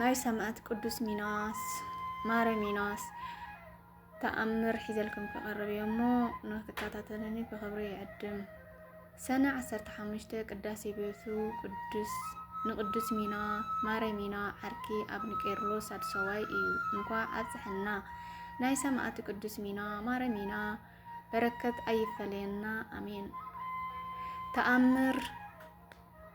ናይ ሰማእት ቅዱስ ሚናስ ማረ ሚናስ ተኣምር ሒዘልኩም ክቐርብ እዮ እሞ ንክትከታተልኒ ብኽብሪ ይዕድም። ሰነ 15 ቅዳሴ ቤቱ ቅዱስ ንቅዱስ ሚና ማረ ሚና ዓርኪ ኣብ ንቄርሎስ ኣድሰዋይ እዩ። እንኳ ኣብፅሐና ናይ ሰማእት ቅዱስ ሚና ማረ ሚና በረከት ኣይፈለየና ኣሜን። ተኣምር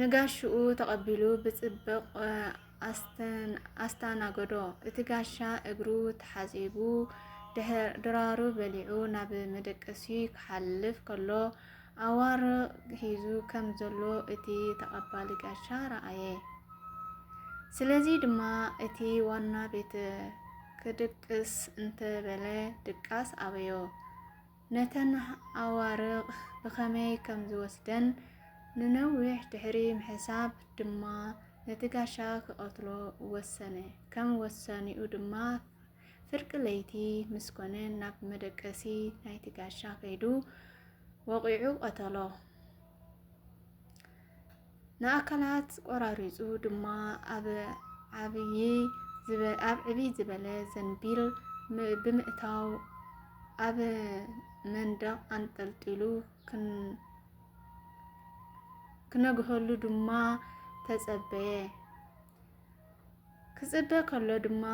ንጋሽኡ ተቐቢሉ ብፅብቕ ኣስተኣናገዶ። እቲ ጋሻ እግሩ ተሓፂቡ ድራሩ በሊዑ ናብ መደቀሲ ክሓልፍ ከሎ ኣዋር ሒዙ ከም ዘሎ እቲ ተቐባሊ ጋሻ ረኣየ። ስለዚ ድማ እቲ ዋና ቤት ክድቅስ እንተበለ ድቃስ ኣበዮ። ነተን ኣዋርቕ ብኸመይ ከም ዝወስደን ንነዊሕ ድሕሪ ምሕሳብ ድማ ነቲ ጋሻ ክቐትሎ ወሰነ። ከም ወሳኔኡ ድማ ፍርቂ ለይቲ ምስ ኮነ ናብ መደቀሲ ናይቲ ጋሻ ከይዱ ወቒዑ ቀተሎ። ንኣካላት ቆራሪጹ ድማ ኣብ ዓብዪ ኣብ ዕብይ ዝበለ ዘንቢል ብምእታው ኣብ መንደቕ ኣንጠልጢሉ ክነግሀሉ ድማ ተጸበየ። ክጽበ ከሎ ድማ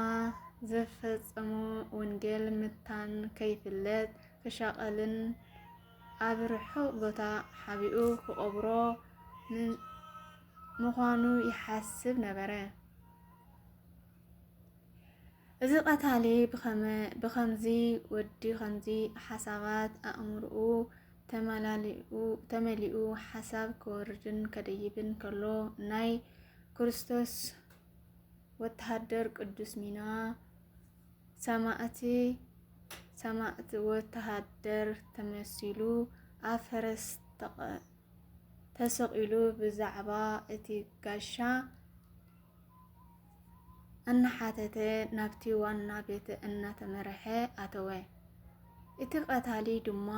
ዘፈጸሞ ወንጌል ምታን ከይፍለጥ ክሻቐልን ኣብ ርሑቕ ቦታ ሓቢኡ ክቐብሮ ምዃኑ ይሓስብ ነበረ። እዚ ቀታሊ ብኸምዚ ወዲ ኸምዚ ሓሳባት ኣእምርኡ ተመሊኡ ሓሳብ ክወርድን ከደይብን ከሎ ናይ ክርስቶስ ወተሃደር ቅዱስ ሚና ሰማእቲ ሰማእቲ ወተሃደር ተመሲሉ ኣብ ፈረስ ተሰቒሉ ብዛዕባ እቲ ጋሻ እናሓተተ ናብቲ ዋና ቤት እናተመርሐ ኣተወ። እቲ ቀታሊ ድማ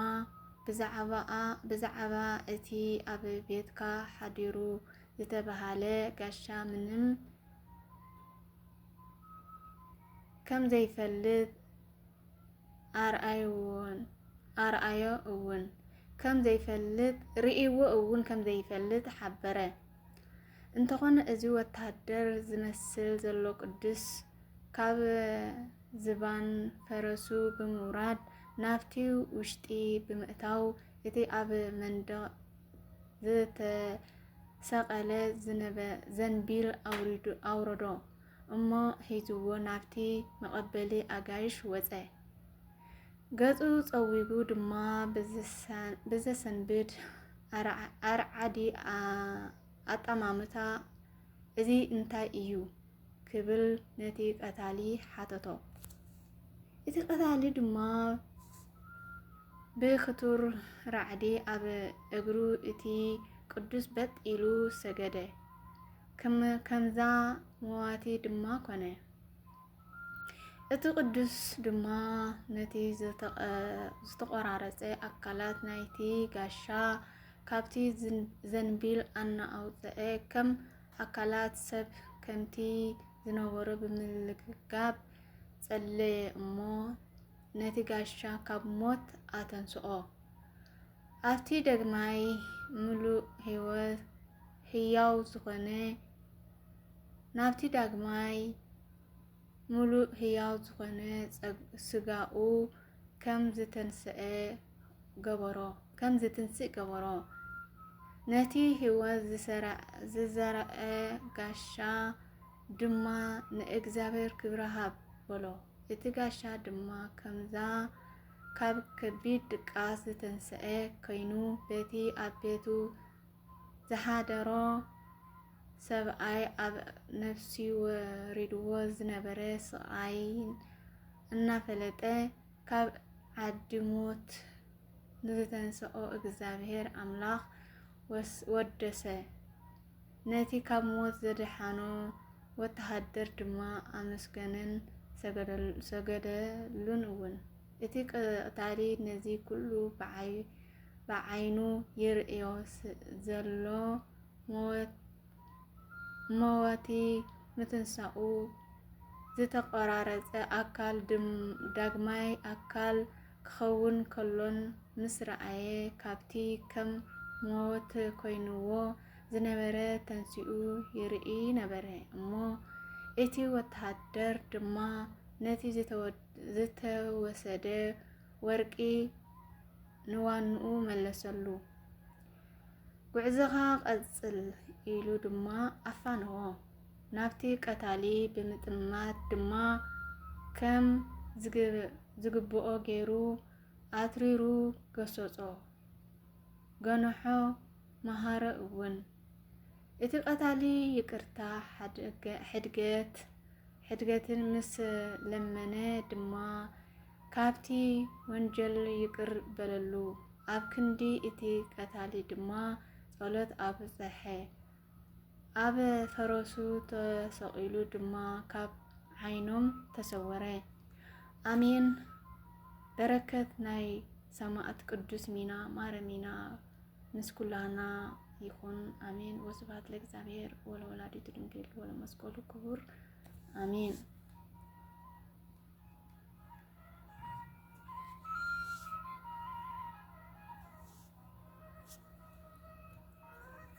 ብዛዕባኣ ብዛዕባ እቲ ኣብ ቤትካ ሓዲሩ ዝተባሃለ ጋሻ ምንም ከምዘይፈልጥ ኣርኣዮ እውን ርእይዎ እውን ከምዘይፈልጥ ሓበረ። እንተኾነ እዚ ወተሃደር ዝመስል ዘሎ ቅዱስ ካብ ዝባን ፈረሱ ብምውራድ ናብቲ ውሽጢ ብምእታው እቲ ኣብ መንደቕ ዝተሰቐለ ዘንቢል ኣውረዶ እሞ ሒዝዎ ናብቲ መቐበሊ ኣጋይሽ ወጸ። ገጹ ጸዊጉ ድማ ብዘሰንብድ ኣርዓዲ ኣጠማምታ እዚ እንታይ እዩ? ክብል ነቲ ቀታሊ ሓተቶ። እቲ ቀታሊ ድማ ብክቱር ራዕዲ ኣብ እግሩ እቲ ቅዱስ በጥ ኢሉ ሰገደ፣ ከምዛ መዋቲ ድማ ኮነ። እቲ ቅዱስ ድማ ነቲ ዝተቖራረፀ ኣካላት ናይቲ ጋሻ ካብቲ ዘንቢል ኣናኣውፀኤ ከም ኣካላት ሰብ ከምቲ ዝነበሮ ብምልግጋብ ጸለየ እሞ ነቲ ጋሻ ካብ ሞት ኣተንስኦ። ኣብቲ ደግማይ ምሉእ ህይወት ህያው ዝኾነ ናብቲ ዳግማይ ምሉእ ህያው ዝኾነ ስጋኡ ከም ዝተንስኤ ገበሮ ከም ዝትንስእ ገበሮ ነቲ ህይወት ዝዘረአ ጋሻ ድማ ንእግዚኣብሔር ክብሪ ሃብ በሎ። እቲ ጋሻ ድማ ከምዛ ካብ ከቢድ ድቃስ ዝተንስአ ኮይኑ በቲ ኣብ ቤቱ ዝሓደሮ ሰብኣይ ኣብ ነብሲ ወሪድዎ ዝነበረ ስቓይን እናፈለጠ ካብ ዓዲ ሞት ንዝተንሰኦ እግዚኣብሔር ኣምላኽ ወደሰ። ነቲ ካብ ሞት ዘድሓኖ ወተሃደር ድማ ኣመስገነን ሰገደሉን እውን። እቲ ቀታሊ ነዚ ኩሉ ብዓይኑ ይርእዮ ዘሎ መወቲ ምትንሳኡ ዝተቆራረጸ ኣካል ዳግማይ ኣካል ክኸውን ከሎን ምስ ረኣየ ካብቲ ከም ሞት ኮይንዎ ዝነበረ ተንሲኡ ይርኢ ነበረ እሞ እቲ ወተሃደር ድማ ነቲ ዝተወደ ዝተወሰደ ወርቂ ንዋንኡ መለሰሉ። ጉዕዞኻ ቀጽል ኢሉ ድማ ኣፋነዎ። ናብቲ ቀታሊ ብምጥማት ድማ ከም ዝግብኦ ገይሩ ኣትሪሩ ገሰጾ። ገንሖ መሃሮ እውን እቲ ቀታሊ ይቅርታ ሕድገት ሕድገትን ምስ ለመነ ድማ ካብቲ ወንጀል ይቅር በለሉ። ኣብ ክንዲ እቲ ቀታሊ ድማ ጸሎት ኣብጸሐ። ኣብ ፈረሱ ተሰቂሉ ድማ ካብ ዓይኖም ተሰወረ። ኣሜን። በረከት ናይ ሰማእት ቅዱስ ሚና ማረ ሚና ምስ ኩላና ይኹን ኣሜን። ወስብሐት ለእግዚኣብሔር ወለወላዲቱ ድንግል ወለመስቀሉ ክቡር ኣሜን።